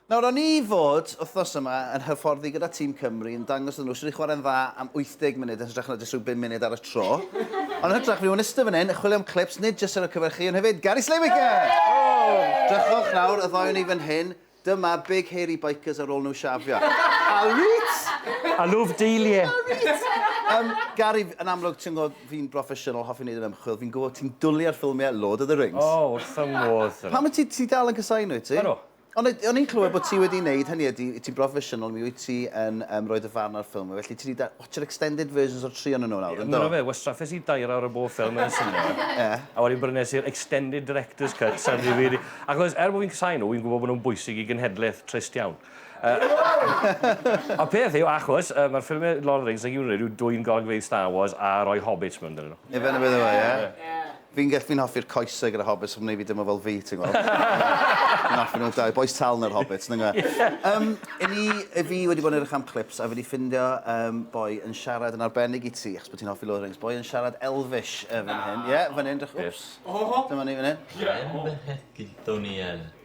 Nawr, o'n i fod, wythnos yma, yn hyfforddi gyda tîm Cymru, yn dangos iddyn nhw sut i chwarae'n dda am 80 munud yn hytrach na jyst rhyw bum munud ar y tro. Ond yn hytrach, fi yn iste fan hyn, yn chwilio am clips, nid jyst ar y cyfer chi, ond hefyd Gary Slaymaker! Drychwch nawr, y ddoi o'n i fan hyn, dyma big hairy bikers ar ôl nhw shafio. Alright! Alw f'deiliau! Alright! Yym, Gary, yn amlwg, ti'n gwybod, Fi'n broffesiynol, hoffi wneud yr ymchwil, fi'n gwybod ti'n dwli ar ffilmiau Lord of the Rings. O, wrth fy modd, Sylw. Pam wyt ti, ti dal yn casáu nhw, wyt ti? Ydw. Ond o'n i'n clywed bod ti wedi wneud, hynny ydi, ti'n broffesiynol, mi wyt ti yn yym rhoi dy farn ar ffilmiau, felly ti 'di da- watsho'r extended versions o'r tri ohonyn nhw nawr, yn do? Ie, ma' 'na fe, wastraffes i dair awr o bob ffilm yn y sinema, Ie. a wedyn brynes i'r extended director's cut ar DVD, achos er bo' fi'n casáu nhw, fi'n gwybod bod nhw'n bwysig i genhedlaeth trist iawn. Y peth yw, achos, yy, mae'r ffilmie Lord of the Rings, nag yw rhaid yw dwyn golygfeydd Star Wars a rhoi hobbits mewn dyn nhw. Ie, fe na beth yw e, ie. Fi'n gell- fi'n hoffi'r coesau gyda hobbits, sy'n gwneud fi deimlo fel fi, ti'n gweld. Fi'n hoffi nhw dau, bois tal neu'r hobbits, nag yw e. Yym, i ni, i fi wedi bod yn edrych am clips, a fi wedi ffindio, yym, boi yn siarad yn arbennig i ti, achos bod ti'n hoffi Lord of the Rings, boi yn siarad Elfish, yy, fan hyn. Ie, fan hyn, drych- wps. Dyma ni fan hyn. Hen fechgyn Ddoniel.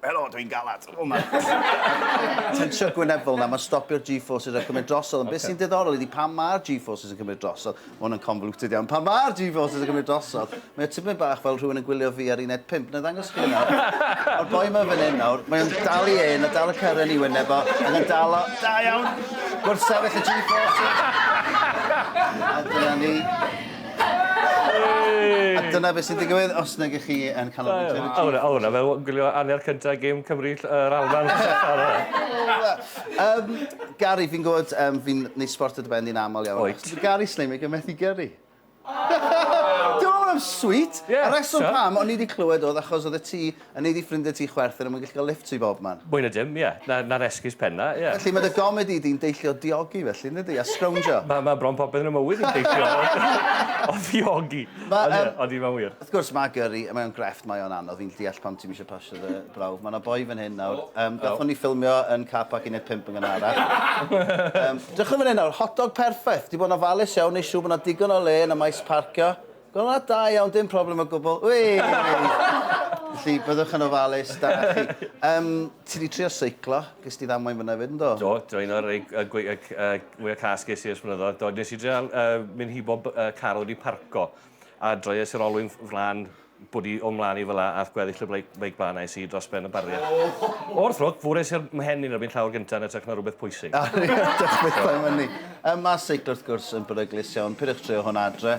Helo, dwi'n galad. O, mae tensio gwyneddol na, mae'n stopio'r G-forces a cymryd drosodd. Ond beth sy'n diddorol ydy pan mae'r G-forces yn cymryd drosodd, mae hwn yn convoluted iawn, pan mae'r G-forces yn cymryd drosodd, mae o tipyn bach fel rhywun yn gwylio fi ar uned 5. Na ddangos chi nawr. Mae'r boi yma fan hyn nawr, mae'n dal i ein, a dal y cyrren i wyneb o, ac yn dal o. Da iawn! Gwrthsefyll y G-forces. A dyna ni. A dyna beth sy'n digwydd os nag ych chi yn cael o'r Winter Chief. O hwnna, fel gwylio anner cyntaf y gêm Cymru yr Alban. Yym, Gary, fi'n gwybod, um, fi'n neud sport o dy ben di'n aml iawn. Wyt. Gary Slimig yn methu gyrru. Dwi'n meddwl bod o'n sweet. Yeah, so. Y reswm pam o'n i wedi clywed oedd achos oedd y ti A nei di ffrindie ti chwerthin a mwy gallu cael lifft ti bob man. Mwy na dim, ie. Na, na'r esgus penna, ie. Felly ma' dy gomedi di'n deillio diogi felly, yn dydi? A sgrowndio? Ma, ma' bron popeth yn 'y mywyd i'n deillio o, o ddiogi. Ma, Ond ie, yym, odi, mae'n wir. wrth gwrs, ma' gyrri, mae o'n grefft, mae o'n anodd, fi'n deall pam ti'm isio pasio dy brawf. Ma' 'na boi fan hyn nawr, yym, gathon ni ffilmio yn car park uned pump yn Gynarach. Yym, drychwn fan hyn nawr, hot dog perffaith, 'di bod yn ofalus iawn, neu' siŵr bo' 'na digon o le yn y maes parcio. Gweld hwnna? Da iawn, dim problem o gwbl. Wei! Felly, byddwch yn ofalus, da chi. Um, ti wedi trio seiclo, ges ti ddamwain fyna fyd, ynddo? Do, do, un o'r mwyaf cas ges i ers blynyddoedd. Do, nes i drio uh, mynd hi bob uh, car wedi parco a droi es i'r olwyn flan bod i o'n mlaen i fel a, ath gweddill y bleic, bleic blaen ais i dros ben y bariau. Oh. O'r ffrwc, fwr es i'r mhen i'n erbyn llawr gyntaf yn ytrach na rhywbeth pwysig. Diolch beth am hynny. Mae seiclo wrth gwrs yn beryglus iawn, pidwch trio hwn adre.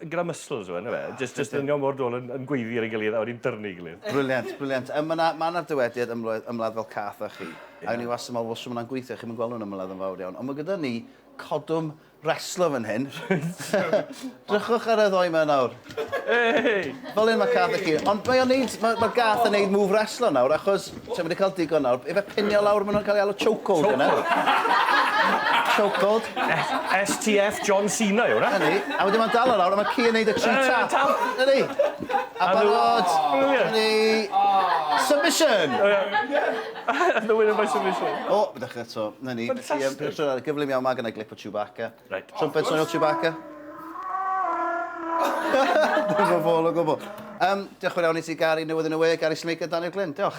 gyda muscles yw e, yndyfe? Jyst, jyst yn mor dôl yn, yn gweiddi ar ei gilydd a wedi dyrnu ei gilydd. Briliant, briliant. Um, mae yna ma na dywediad ymladd, ymladd fel cath a chi. Yeah. A ni was yn meddwl, wel, sy'n gweithio, chi'n gweld nhw'n ymladd yn fawr iawn. Ond mae gyda ni codwm reslo fan hyn. Drychwch ar y ddoi mae nawr. Hey! Fel un mae cath a chi. Ond mae o'n neud, mae, mae gath yn neud move reslo nawr, achos Ti'm wedi cael digon nawr. Ife pinio lawr maen nhw'n cael ei alw chokehold yna? Chokehold. Chokehold. STF John Cena yw hwnna. Ydy. A wedyn mae'n dal o lawr a mae ci yn neud y tri tap. Ydy. A barod. Brilliant. Ydy. Submission. And the winner by submission. O, dechrau eto. Na ni. Fantastic. Gyflym iawn, mae gynnau glip o Chewbacca. Reit. Trumpet swnio'r Chewbacca. Dim yn fôl o gwbl. Diolch yn fawr iawn i ti Gary, newydd yn y we, Gary Snake a Daniel Glyn. Diolch.